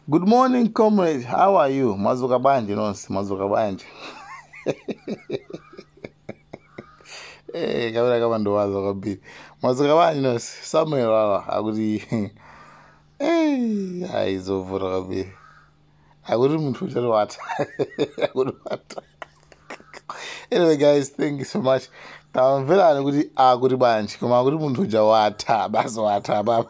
Good morning comrade, how are you? Mwazuka bwanji nonse, mwazuka bwanji. Eh, kabira kama ndo wazo kwambiri. Mwazuka bwanji nonse, Samuel Lwara akuti eh, ayi zovuta kwambiri. Akuti munthu uja watha. Akuti watha. Anyway guys, thank you so much. Tamverani kuti akuti bwanji, koma akuti munthu uja watha, basi watha baba.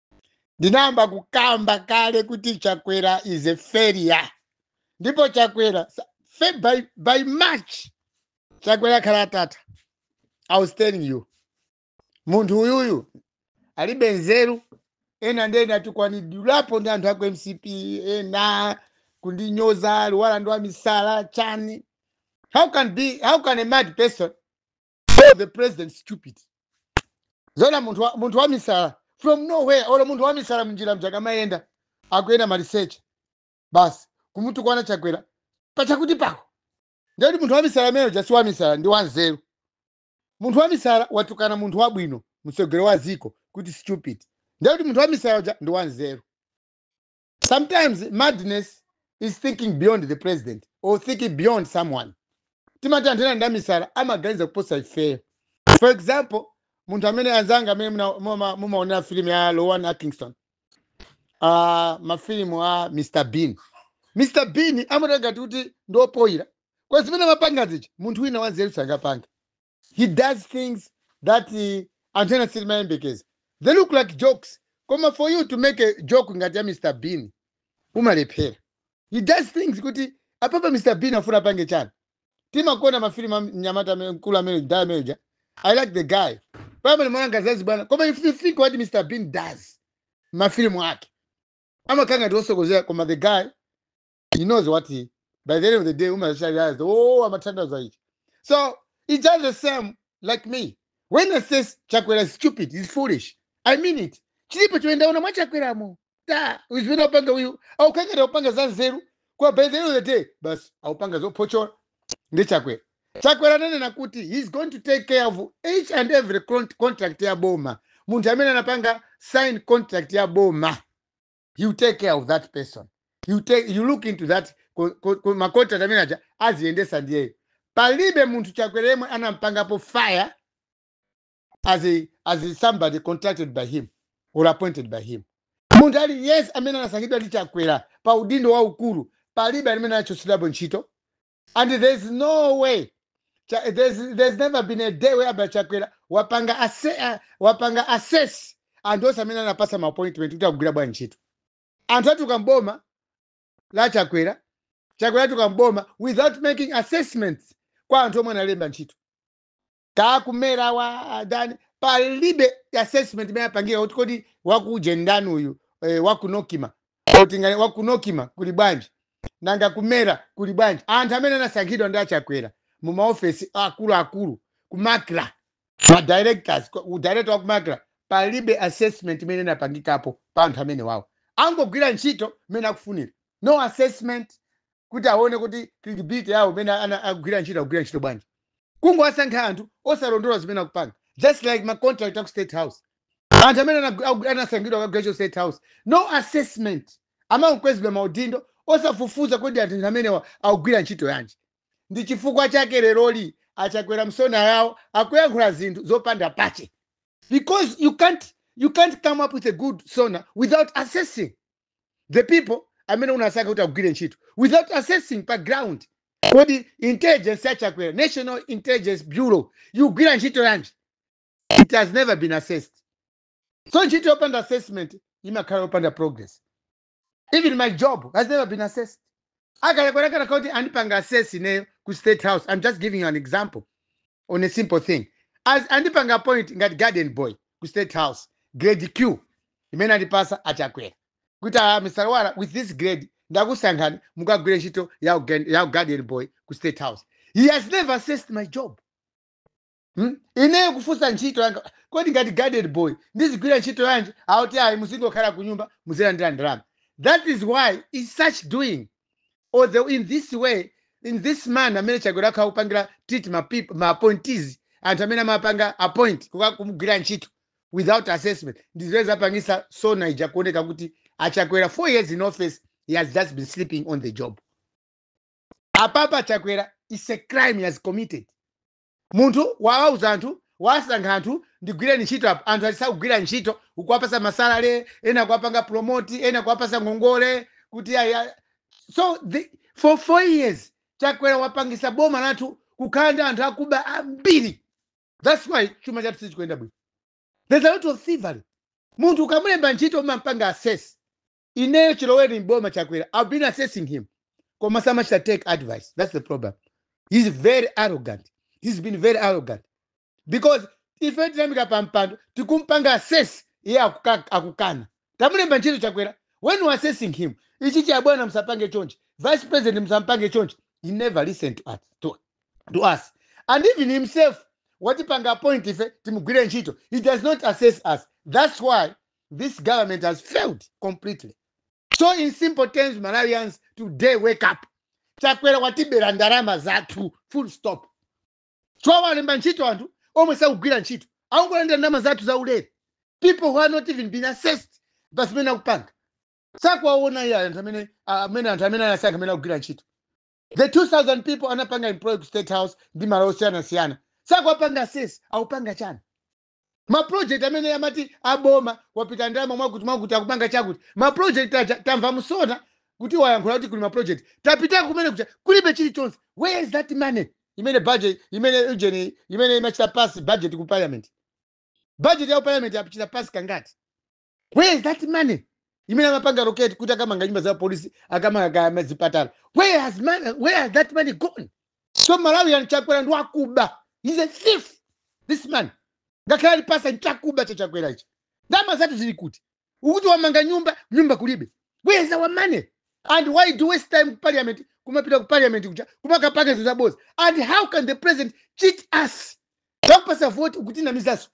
ndinayamba kukamba kale kuti chakwera is a failure ndipo chakwera sa- fe- by, by march chakwera akhala atatha i was telling you munthu uyuyu alibe nzeru ena ndiye ndatukwanidwapo ndi anthu aku mcp ena kundinyoza lwara ndi wamisala chani how can be how can a mad person call the president stupid zoona munthu wa, munthu wa misala from nowhere olo munthu wa misala m'njira muja akamayenda akuyenda maliseche basi kumutukwana chakwera pachakuti pako ndiye kuti munthu wa misala amene uja si wa misala ndi wanzeru munthu wa misala watukana munthu wabwino mtsogoleri wa dziko kuti stupid ndiye kuti munthu wa misala uja ndi wanzeru Sometimes madness is thinking beyond the president or thinking beyond someone. Timati anthu ena ndi amisala amaganiza kuposa ifeyo. For example, munthu amene anzanga amene muna- muma- mumaonera filimu ya Rowan Atkinson, ah, mafilimu a Mr Bean. Mr Bean amaoneka ngati kuti ndi opoyira. Kwa zimene amapanga zija, munthu wina wanzeru sangapange. he does things that anthu ena sitimayembekeza they look like jokes koma for you to make a joke ngati ya mr bean umalephera he does things kuti apapa mr bean afuna apange chani timakonda mafilimu a mnyamata amene- mkulu amene mdala amene uja i like the guy pamene mwananga zazi bwana koma if you think what mr bean does mafilimu ake amakhala ngati wosokonekera koma the guy he knows what he by the end of the day umaza realize oh amatanthauza ichi so it's just the same like me when i say chakwera is stupid is foolish i mean it chilipo chomwe ndaona mwa chakweramo ta zimene aupanga uyu aukhala ngati aupanga za nzeru koma by the end of the day basi aupanga zophochola ndi chakwera chakwera ananena kuti he's going to take care of each and every con- contract ya boma munthu amene anapanga sign contract ya boma you take care of that person you, take, you look into that ko- ko- ko- ma contract amene aja aziyendesa ndiyeyo palibe munthu chakwera yemwe anampangapo fire as, a, as a somebody contracted by him or appointed by him munthu aliyense amene anasankhidwa ndi chakwera pa udindo waukulu palibe amene anachotsedwapo ntchito And there's no way Cha, there's, there's never been a day whereby chakwera wapanga ase, uh, wapanga assess anthu onse amene anapasa ma appointment kuti akugwira bwanji ntchito anthu atuluka mboma la chakwera chakwera atuluka mboma without making assessments kwa anthu omwe analemba ntchito kakumera wa adani palibe assessment imene apangira kuti kodi wakuje ndani uyu eh, waku nocma kuti ngati waku nocma kuli bwanji nanga ku mera kuli bwanji anthu amene anasankhidwa ndi achakwera mu maofesi akuluakulu ku macra ma directors ku- ku director wa ku macra palibe assessment imene inapangikapo pa anthu amenewawo angogwira ntchito mmene akufunira no assessment kuti aone kuti credibility yawo mmene ana agwira ntchito agwira ntchito bwanji kungowasankha anthu osalondola zimene akupanga just like ma contract aku state house anthu amene anagwi- agu- anasankhidwa akagwire ntchito state house no assessment amangokwezedwa maudindo osafufuza kodi anthu amenewa akugwira ntchito yanji ndi chifukwa chake leroli achakwera msona yawo akuyankhula zinthu zopanda pache because you can't you can't come up with a good sona without assessing the people amene unasankha kuti akugwire ntchito without assessing pa ground kodi intelligence ya chakwera national intelligence bureau yikugwira ntchito yanji it has never been assessed so ntchito yopanda assessment imakhala yopanda progress even my job has never been assessed achakwera akanakhala kuti andipanga assess ineyo ku state house i'm just giving you an example on a simple thing as andipanga appoint ngati garden boy ku state house grade q imene andipasa achakwera kuti ah, mr wala with this grade ndakusankhani mukagwire ntchito ya ugen- ya garden boy ku state house he has never assessed my job Hmm? ineyo kufunsa ntchito yanga kodi ngati garden boy ndizigwira ntchito yanji akuti ayi muzingokhala ku nyumba muzilandira ndalama that is why in such doing or the, in this way in this manner amene chakwera akhala akupangira treat ma peop- ma appointees anthu amene amapanga appoint kuka- kumugwira ntchito without assessment ndizimene zapangisa sona ija kuoneka kuti achakwera four years in office he has just been sleeping on the job apapa chakwera is a crime he has committed Munthu wawauza anthu, wasankha anthu, ndigwireni ntchito apo, anthu aja sakugwira ntchito, ukuwapasa masalary, ena kuwapanga promote, ena kuwapasa ngongole, kuti ayi, ayi. so the, for four years Chakwera wapangisa boma lathu kukhala ndi anthu akuba ambiri, that's why chuma chathu sichikuyenda bwino, there's a lot of thievery. Munthu ukamulemba ntchito umampanga assess, ineyo chiloweni mboma chakwera i've been assessing him koma samachita take advice that's the problem he's very arrogant he's been very arrogant because ife tinamuika pa mpando tikumpanga assess iye akuka- akukana tamulemba ntchito chakwera when we assessing him ichichi abwana musapange chonchi vice president musampange chonchi he never listened to us, to, to us. and even himself watipanga appoint ife timugwire ntchito he does not assess us that's why this government has failed completely so in simple terms malawians today wake up chakwera watibera ndalama zathu full stop chifukwa walemba ntchito anthu omwe sakugwira ntchito akungolandira ndalama zathu za ulere people who have not even been assessed pa zimene akupanga sakuwaona iye anthu amene amene anthu amene anasankha amene akugwira ntchito the 2000 people anapanga employ ku state house ndi malo osiyanasiyana sakuwapanga assess akupanga chani mapulojekiti amene amati aboma wapita ndalama mwakuti mwakuti akupanga chakuti mapulojekiti aja tamva mu sona kuti wayankhula kuti kuli mapulojekiti tapita kumene kuja kulibe chilichonse where is that money imene budget imene ujeni imene imachita pass budget ku parliament budget ya ku parliament yachita pass kangati where is that money imene amapanga allocate kuti akamanga nyumba za polisi akamanga kaya mazipatala where has money, where has that money gone so malawians chakwera ndi wakuba he's a thief this man ngakhale ali pastor nchakuba cha chakwera ichi ndama zathu zili kuti ukuti wamanga nyumba nyumba kulibe where is our money and why do we waste time ku parliament kumapita ku parliament kuja kumakapanga zinthu zaboza and how can the president cheat us takupasa vote ukutinamizaso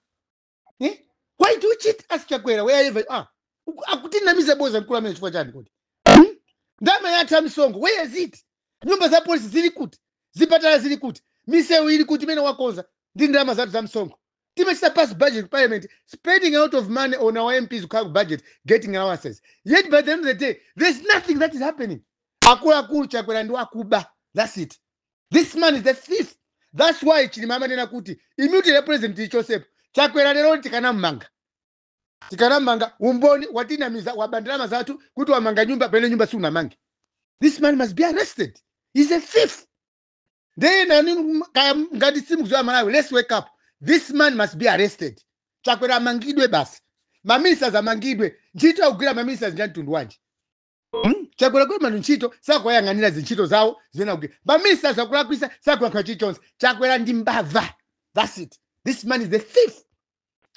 eh? why do you cheat us chakwera wherever you are Uku- akutinamiza boza mkulu amene chifukwa chani kodi hmm? ndama yathu ya msonkho where is it nyumba za polisi zili kuti zipatala zili kuti misewu ili kuti imene wakonza ndi ndalama zathu za msonkho timachita pass budget ku parliament spending a lot of money on our mps kukhala ku budget getting allowances yet by the end of the day there's nothing that is happening akuluakulu chakwera ndi wakuba that's it this man is a thief that's why chilima amanena kuti immunity ya president tiichotsepo chakwera lero tikanamumanga tikanamumanga umboni watinamiza waba ndalama zathu kuti wamanga nyumba pamene nyumba siunamange this man must be arrested he's a thief ndiye nani m- kaya m- ngati simukuziwa malawi let's wake up this man must be arrested chakwera amangidwe basi maministers amangidwe ntchito akugwira maministers ndi ya mtundu wanji Hmm? chakwera kulemba anthu ntchito sakuwayang'anira zintchito zawo zimene akugwira maministers akulakwisa sakuyankha chilichonse chakwera ndi mbava thats it this man is a thief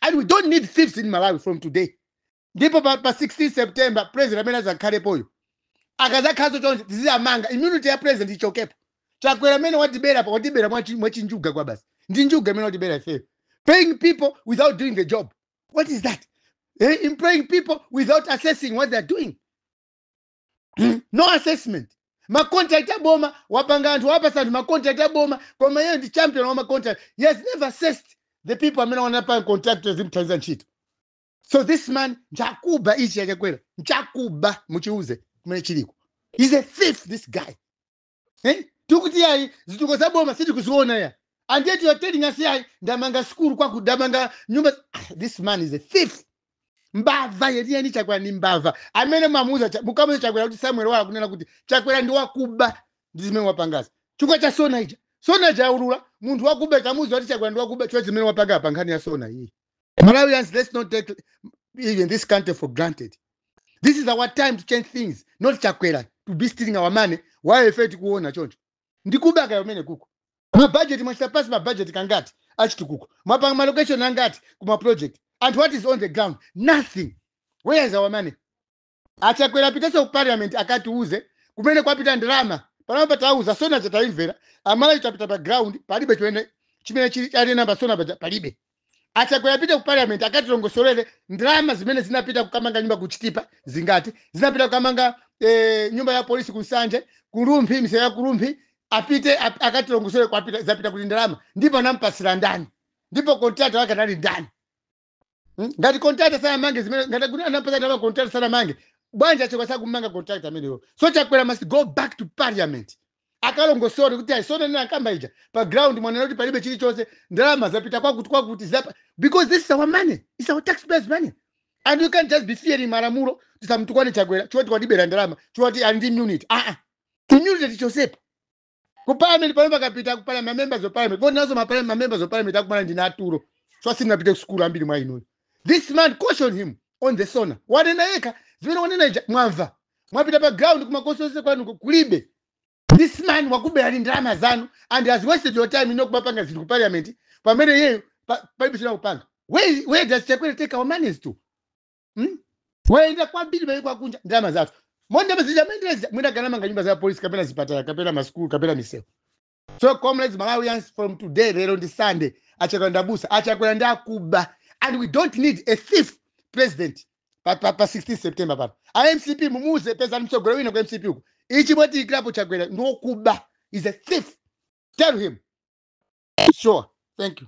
and we don't need thieves in malawi from today ndipo pa, pa 16 september president amene azakhalepoyo akazakhalanso chonchi tiziwamanga immunity ya president ichokepo chakwera amene watibera pa watibera mwachi- mwachinjuga kwabasi ndi njuga imene watibera ifeyo paying people without doing the job what is that eh, employing people without assessing what they are doing Hmm? no assessment macontract aboma wapanga anthu wawapatsa anthu macontract aboma koma iye ndi champion wa macontract he has never assessed the people amene anawapanga contract azimthandiza ntchito so this man nchakuba ichi yachakwera nchakuba muchiuze kumene chiliko he's a thief this guy eh? tikuti yayi zituko za boma sitikuziona ya and yet you are telling us yayi ndamanga sikulu kwaku ndamanga nyumba Ah, this man is a thief mbava yeniyeni chakwera ni mbava amene mamuza cha- mukamuza chakwera kuti samuel wala kunena kuti chakwera ndi wakuba ndi zimene wapangazi chifukwa cha sona ija sona jaulula munthu wakuba ikamuza kuti chakwera ndi wakuba chifukwa zimene wapanga pa nkhani ya sona iyi Malawians, let's not take even this country for granted. This is our time to change things, not Chakwera to be stealing our money while ife tikuona chonchi. Ndi kubatu kumeneku. Ma budget mwachita pass ma budget kangati achitukuko. Mwapanga ma location angati kuma project. And what is on the ground? Nothing. Where is our money? achakwera apitenso ku parliament akatiuze kumene kwapita ndalama panopa atiuza sona ija taimvera amalawi tapita pa ground palibe chimene chimene chili chili mu sona paja palibe achakwera apite ku parliament akatilongosolere ndalama zimene zinapita kukamanga nyumba ku chitipa zingati zinapita kukamanga eh, nyumba ya polisi ku nsanje ku rumphi misewu ya ku rumphi apite ap- akatilongosolere kwapita zapita kuti ndalama ndipo anampatsira ndani ndipo contractor wake anali ndani Mm? ngati contractor sanamange zimene ngati kuti anampatsa ndalama contractor sanamange bwanji achoka sakumanga contractor ameneyo so chakwera must go back to parliament akalongosole kuti ayi sona ndinakamba ija pa ground mwanena kuti palibe chilichonse ndalama zapita kwakuti kwakuti zapa because this is our money it's our taxpayers money and you can't just be fearing malamulo tisamtukwane chakwera choti akutibera ndalama choti ali ndi immunity aa immunity tichosepa ku parliament pamene pakapita ku parliament ma members of parliament voti nazo ma parliament ma members of parliament akumana ndi naturo so sanapite ku school ambiri mwa inuyo this man caution him on the sona wanena yekha zimene wanena ija mwamva mwapita pa ground kuma constituency kwanu ku- kulibe this man wakuberani ndalama zanu and has wasted your time inu kumapanga zinthu ku parliament pamene iyeyo palibe chimene akupanga where, where does chakwera take our monies to Hmm? wayenda kwambiri maiko akunja ndalama zathu ndalama zimene amayenderazi mwina akanamanga nyumba za polisi kapena zipatala kapena masukulu kapena misewu so comrades malawians from today lero ndi sunday achakwera ndi abusa achakwera ndi akuba and we don't need a thief president pa, pa, pa 16 september pano a mcp mumuuze pezani mtsogoleri wina ku mcp uku ichi mwatiikirapo chakwera ndi wokuba he's a thief tell him sure thank you